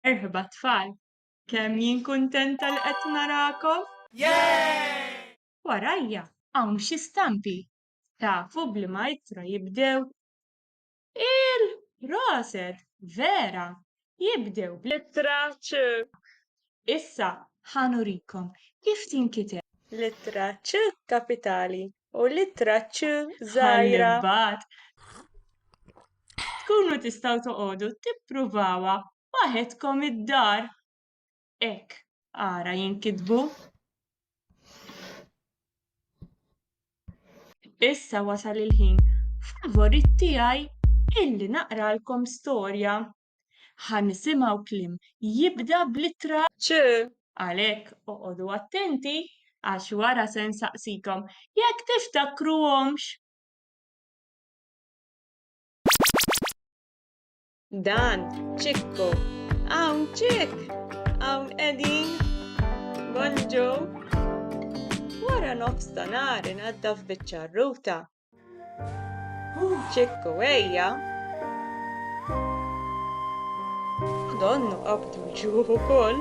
Merħba tfal! Kemm jien kuntenta li qed narakom! Warajja hawn xi stampi. Tafu b'liema ittra jibdew? Il! Proset! Vera! Jibdew bl-ittra ċ. Issa ħa nurikom kif tinkiteb. L-ittra ċ kapitali u l-ittra ċ żgħira. Ħa nibgħat. Tkunu tistgħu toqogħdu tippruvawha waħedkom id-dar. Hekk ara jinkitbu. Issa wasal il-ħin favorit tiegħi illi naqralkom storja. Ħa nisimgħu kliem jibda bl-ittra ċ. Għalhekk oqogħdu attenti għax wara se nsaqsikom jekk tiftakruhomx. Dan, ċikku. Hawn ċik. Hawn qegħdin. Bonġu. Wara nofs ta' nar inaddaf biċ-ċarruta. Ċikku ejja. Donnu qabdu ġuħu koll.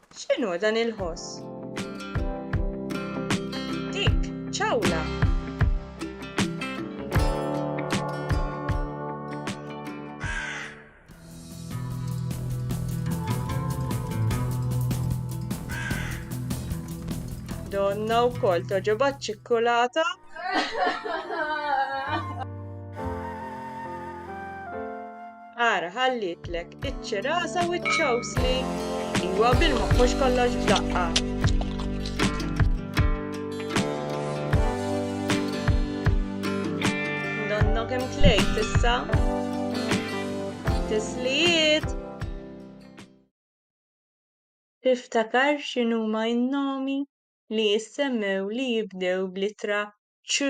X'inhu dan il-ħoss? Dik ċawla! Donna wkoll toġobha ċ-ċikkulata. Ara ħallitlek iċ-ċirasa u ċ-ċawsli. Iwa bil-moħħ mhux kollox b'daqqa. issa. Tislijiet! Tiftakar x'inhuma n-nomi li jissemmew li jibdew bl-ittra ċ.